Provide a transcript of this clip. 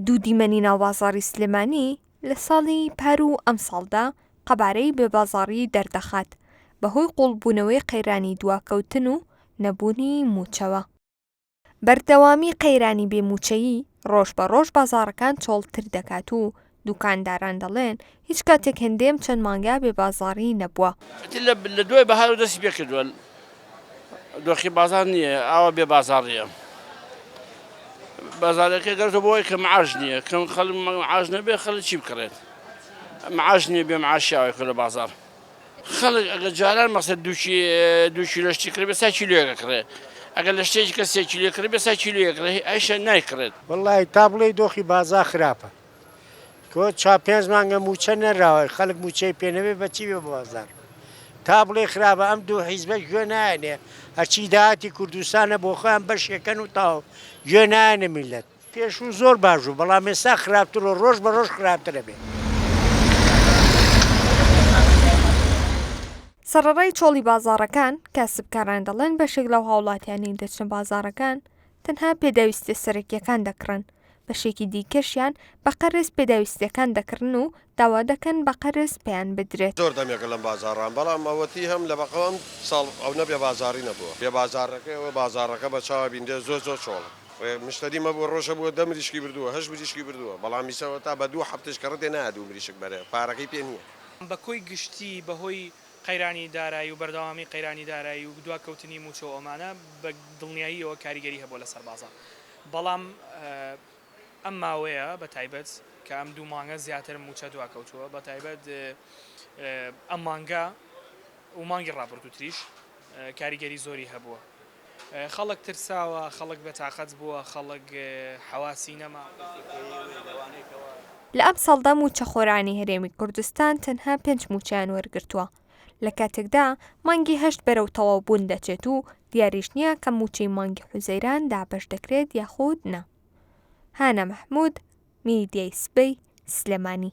دوو دیمەنی ناوبازاڕی سلێمانی لە ساڵی پار و ئەمساڵدا قەبارەی بێبازاڕیی دەردەخات، بەهۆی قووڵبوونەوەی قەیرانی دواکەوتن و نەبوونی مووچەوە. بەردەوامی قەیرانی بێ مووچەیی، ڕۆژبەڕۆژ بازاڕەکان چۆڵتر دەکات و دوکانداران دەڵێن، هیچ کاتێک هندێم چەند مانگە بێ بازاڕی نەبووە. لە دوای بەهارەوە دەستی پێ کردووە، دۆخی بازاڕ نییە، ئاوا بێ بازاڕییە. بازاڕەکە گەڕتووە بۆ ئەوەی کە معاش نییە، کە خەڵک معاش نەبێت، خەڵک چی بکڕێت؟ معاش نییە، بێ معاشی ئاوا کردووە بازاڕ. خەڵک ئەگەر جاران مەسەن دوو کیلۆ شتی کڕێت، ئێستا کیلۆیەک ئەکڕێت. ئەگەر لە شتێکی کە سێ کیلۆیەک کڕێت، ئێستا کیلۆیەک ئەکڕێت، ئەویشیان نایکڕێت. وەڵڵاهی تا بڵێی دۆخی بازاڕ خراپە، تۆ چا پێنج مانگە مووچە نەراوە خەلک مووچەی پێ نەبێ بە چی بێ بازار تا بڵێ خراپە ئەم دوو حیزبە گوێ نایەنێ هەرچی داهاتی کوردستانە بۆ خۆیان بەشێکەن و تاو گوێ نایەنە میلەت پێشوو زۆر باش بوو بەڵام ئێستا خراپتر و ڕۆژ بە ڕۆژ خراپترە بێ. سەڕەڕای چۆڵی بازاڕەکان، کاسبکاران دەڵێن بەشێک لەو هاوڵاتیانەی دەچنە بازاڕەکان تەنها پێداویستیە سەرەکیەکان دەکڕن، بەشێکی دیکەشیان بە قەرز پێداویستیەکان دەکڕن و داوا دەکەن بە قەرز پێیان بدرێت. زۆر دەمێکە لەم بازاڕام بەڵام ئەوەتی هەم لە بەقە ئەم ساڵ ئەونە بێ بازاڕی نەبووە بێ بازاڕەکەی ئەوە بازاڕەکە بە چاوە بیندێ زۆر زۆر چۆڵە ڕێ مشتەری مەبووە ڕۆژە بووە دە مریشکی بردووە هەشت مریشکی بردووە بەڵام ئیسە وەتا بە دوو هەفتەش کە ڕدێ نایە دوو مریشک بەرێ پارەکەی پێ نییە. بە کۆی گشتی بە هۆی قەیرانی دارایی و بەردەوامی قەیرانی دارایی و دواکەوتنی مووچە و ئەمانە بە دڵنیاییەوە کاریگەری هەبووە لەسەر بازاڕ بەڵام ئەم ماوەیە بە تایبەت کە ئەم دوو مانگە زیاتر مووچە دواکەوتووە بە تایبەت ئەم مانگە و مانگی ڕابردووتریش کاریگەری زۆری هەبووە. خەڵک ترساوە، خەڵک بێتاقەت بووە، خەڵک حەواسی نەما. لە ئەمساڵدا مووچەخۆرانی هەرێمی کوردستان تەنها پێنج مووچەیان وەرگرتووە، لە کاتێکدا مانگی هەشت بەرەو تەواوبوون دەچێت و دیاریش نییە کە مووچەی مانگی حوزەیران دابەش دەکرێت یاخود نا. هانا مەحمود، میدیای سبەی، سلێمانی.